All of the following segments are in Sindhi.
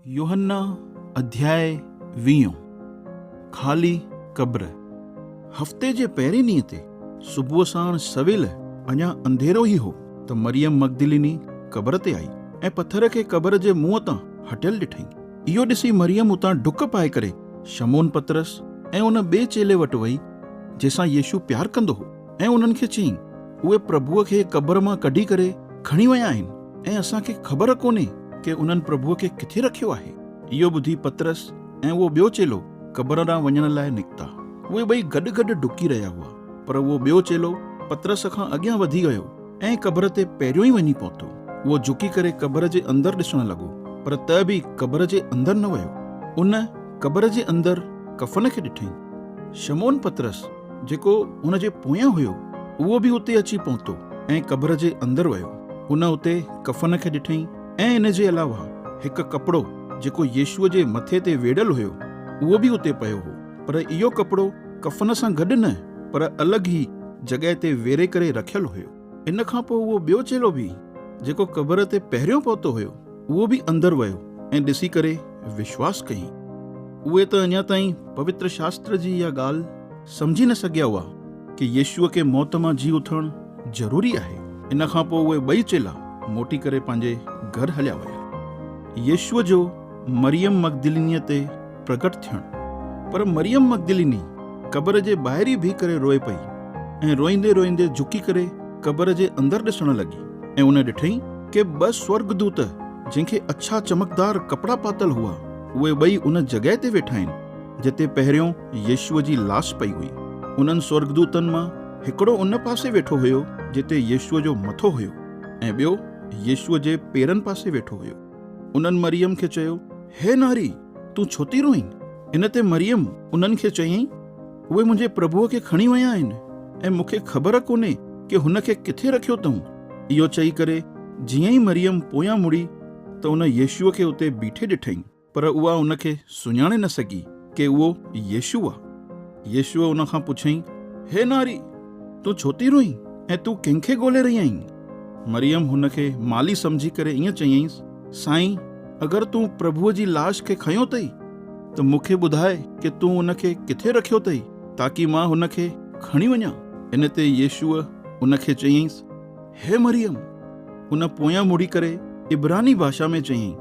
يوحنا اڌياء ويهون، خالي قبر، هفتي جي پهرين ڏينهن تي صبح ساڻ سويل اڃا انڌيرو ئي هو ته مريم مگدليني قبر تي آئي ۽ پٿر کي قبر جي منهن تان هٽيل ڏٺائين. اهو ڏسي مريم اتان ڊڪ پائي ڪري شمعون پطرس ۽ ان ٻئي چيلي وٽ وئي جنهن سان يسوع پيار ڪندو هو. ۽ انهن کي چيائين، اهي پرڀوء کي قبر مان ڪڍي ڪري کڻي ويا آهن، ۽ اسان کي خبر ڪونهي ڪي انهن پرڀوء کي ڪٿي رکيو آهي. اهو ٻڌي پطرس ۽ اهو ٻيو چيلو قبر ڏانهن وڃڻ لاء نڪتا. اهي ٻئي گڏ گڏ ڊڪي رهيا هئا، پر اهو ٻيو چيلو پطرس کان اڳيان وڌي ويو ۽ قبر تي پهريون ئي وڃي پهتو. اهو جهڪي ڪري قبر جي اندر ڏسڻ لڳو، پر ته به قبر جي اندر نه ويو. ان قبر جي اندر ڪفن کي ڏٺئي. شمعون پطرس جيڪو ان جي پويان هيو، اهو به اتي اچي پهتو ۽ قبر جي اندر ويو. ان اتي ڪفن کي ڏٺئين ۽ ان جي علاوه هڪ ڪپڙو جيڪو يسوع جي مٿي تي ويڙهيل هيو، اهو به اتي پيو هو. پر اهو ڪپڙو ڪفن سان گڏ نه، پر الڳ ئي جڳهه تي ويڙهي ڪري رکيل هيو. ان کان پوء اهو ٻيو چيلو به، جيڪو قبر تي پهريون پهتو هيو، اهو به اندر ويو ۽ ڏسي ڪري وشواس ڪيائين. اهي ته اڃا تائين پوتر شاستر جي اها ڳالهه سمجهي نه سگهيا هئا ڪي يسوع کي موت مان جي اٿڻ ضروري آهي. ان کان پوء اهي ٻئي چيلا موٽي ڪري پنهنجي گهر هليا ويا. يسوع جو مريم مگدلينيء تي پرگٽ ٿيڻ. پر مريم مگدليني قبر جي ٻاهري بيهي ڪري روئي پئي ۽ روئيندي روئيندي جهڪي ڪري قبر جي اندر ڏسڻ لڳي ۽ ان ڏٺئي ڪي ٻه سورڳدوت جنهن کي اڇا چمڪدار ڪپڙا پاتل هئا اهي ٻئي ان جڳهه تي ويٺا آهن جتي پهريون يسوع جي لاش پئي هئي انهن سورڳدوتن مان هڪڙو ان پاسي ويٺو هيو جتي يسوع جو مٿو هيو ۽ ٻيو يسوع جي پيرن پاسي ويٺو هيو. انهن مريم کي چيو، هي ناري! تون ڇو ٿي روئين؟ ان تي مريم انهن کي چيائين، اهي منهنجي پرڀوء کي کڻي ويا آهن ۽ مون کي خبر ڪونهي ڪي هن کي ڪٿي رکيو اٿئون. اهو چئي ڪري جيئن ئي مريم پويان مڙي ته ان يسوع کي اتي بيٺي ڏٺائين، پر اها ان کي سڃاڻي نه سگهي. ڪي اهو يسوع آ؟ يسوع ان کان پڇيائين، هي ناري! تون ڇو ٿي روئين ۽ تون ڪنهن کي ڳولي رهي آهين؟ مريم هن کي مالي سمجهي ڪري ائين چيائينس، سائين! اگر تون پرڀوء جي لاش کي کنيو اٿئي ته مون کي ٻڌاء ڪي تون ان کي ڪٿي رکيو اٿئي، تاڪي مان هن کي کڻي وڃان. ان تي يسوع ان کي چيائينس، هي مريم! ان پويان مڙي ڪري عبراني ڀاشا ۾ چيائين،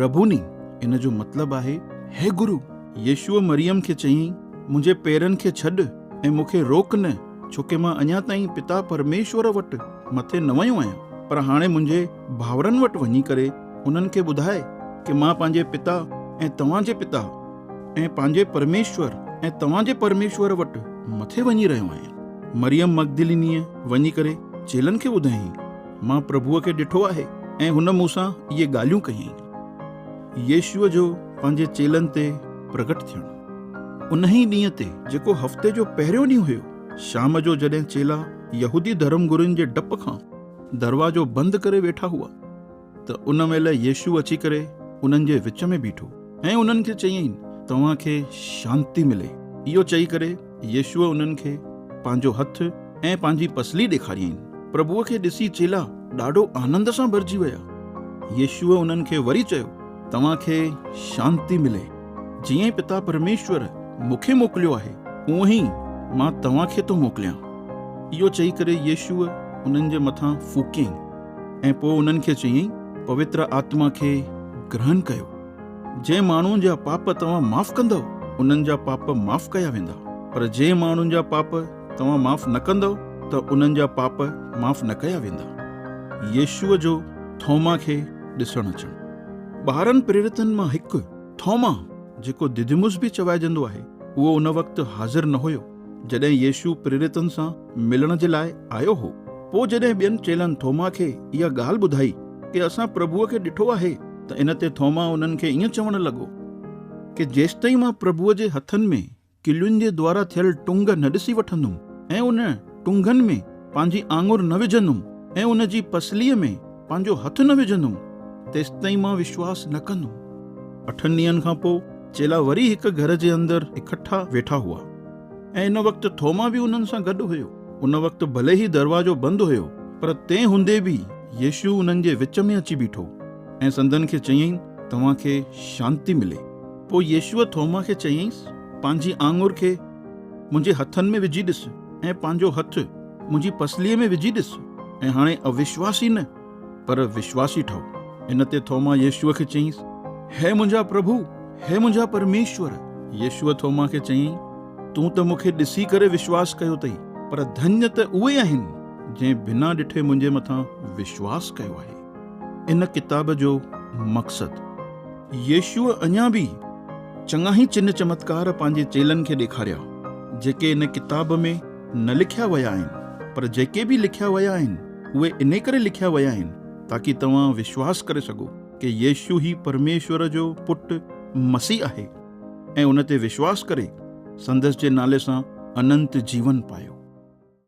ربوني! ان جو مطلب آهي، هي گرو! يسوع مريم کي چيائين، منهنجي پيرن کي ڇڏ ۽ مون کي روڪ نه، ڇو ڪي مان اڃا تائين پتا پرميشور وٽ مٿي نه ويو آهيان، پر هاڻي منهنجي ڀائرن وٽ وڃي ڪري، انهن کي ٻڌاء ڪي مان پنهنجي پتا ۽ توهان جي پتا ۽ پنهنجي پرميشور ۽ توهان جي پرميشور وٽ مٿي وڃي رهيو آهيان. مريم مگدلينيء وڃي ڪري چيلن کي ٻڌايائين، مان پرڀوء کي ڏٺو آهي ۽ هن مون سان اهي ڳالهيون ڪيائين. يسوع جو پنهنجي چيلن تي پرگهٽ ٿيڻ. انهيء ڏينهن تي، جيڪو هفتي جو پهريون ڏينهن هيو، شام جو جڏهن چيلا يهودي ڌرمگرين جي ڊپ کان دروازو بند ڪري ويٺا هئا، ته ان مهل يسوع اچي ڪري انهن جي وچ ۾ بيٺو ۽ انهن کي چيائين، توهان کي شانتي ملي. اهو چئي ڪري يسوع انهن کي پنهنجو هٿ ۽ پنهنجي پسلي ڏيکاريائين. پرڀوء کي ڏسي چيلا ڏاڍو آنند سان ڀرجي ويا. يسوع انهن کي وري چيو، توهان کي شانتي ملي. جيئن ئي پتا پرميشور مون کي موڪليو آهي، اونهي ئي مان توهان کي ٿو موڪليان. اهو چئي ڪري يسوع انهن جي مٿان ڦوڪيائين. ۽ پوء انهن کي چيائين، پوتر آتما کي گرهن ڪيو. جنهن ماڻهو جا پاپ توهان معاف ڪندؤ، انهن جا پاپ معاف ڪيا ويندا، پر جنهن ماڻهو جا پاپ توهان معاف نه ڪندؤ ته انهن جا پاپ معاف نه ڪيا ويندا. يسوع جو ٿوما کي ڏسڻ اچڻ. ٻارهن پريرتن مان هڪ، ٿوما، جيڪو دديموس به چوائجندو آهي، اهو ان وقت حاضر نه هيو، جڏهن يسوع پريرتن سان ملڻ جي لاء آيو هو. پوء جڏهن ٻين چيلن ٿوما کي اها ڳالهه ٻڌائي ڪي اسان پرڀوء کي ڏٺو آهي ته ان تي ٿوما انهن کي ائين چوڻ لڳو، ڪي جيستائين مان پرڀوء جي هٿن ۾ ڪلين جي دوارا ٿيل ٽنگ نه ڏسي وٺندم ۽ ان ٽنگن ۾ پنهنجي آڱر نه وجهندم ۽ ان جي پسليء ۾ پنهنجو هٿ نه وجهندم، تيستائين مان وشواس نه ڪندم. اٺن ڏينهن کان پوء چيلا وري هڪ گهر جي اندر اڪٺا ويٺا هئا. ۽ ان وقت ٿوما به انهن سان گڏ هيو. ان وقت ڀلي ئي دروازو بند هيو، پر تنهن هوندي به يسوع انهن جي وچ ۾ اچي بيٺو ۽ سندن کي چيائين، توهان کي شانتي ملي. پوء يسوع ٿوما کي چيائينس، پنهنجي آڱر کي منهنجي هٿن ۾ وجهي ڏس ۽ پنهنجو هٿ منهنجي پسليء ۾ وجهي ڏس ۽ هاڻي اوشواس ئي نه، پر وشواسي ٺهو. ان تي ٿوما يسوع کي چيائينس، هي منهنجا پرڀو، هي منهنجا پرميشور! يسوع ٿوما کي چيائين، تون ته مون کي ڏسي ڪري وشواس ڪيو اٿئي، پر ڌڃ ته اهي آهن، جنهن بنا ڏٺي منهنجي مٿان وشواس ڪيو آهي. ان ڪتاب جو مقصد. يسوع اڃا به چڱاهي چنه چمتڪار پنهنجي چيلن کي ڏيکاريا، جيڪي ان ڪتاب ۾ نه لکيا ويا آهن، پر جيڪي به لکيا ويا آهن، اهي انهي ڪري لکيا ويا آهن تاڪي توهان وشواس ڪري سگهو ڪي يسوع هي پرميشور جو پٽ مسيح آهي ۽ ان تي وشواس ڪري سندس جي نالي سان اننت جيون پايو.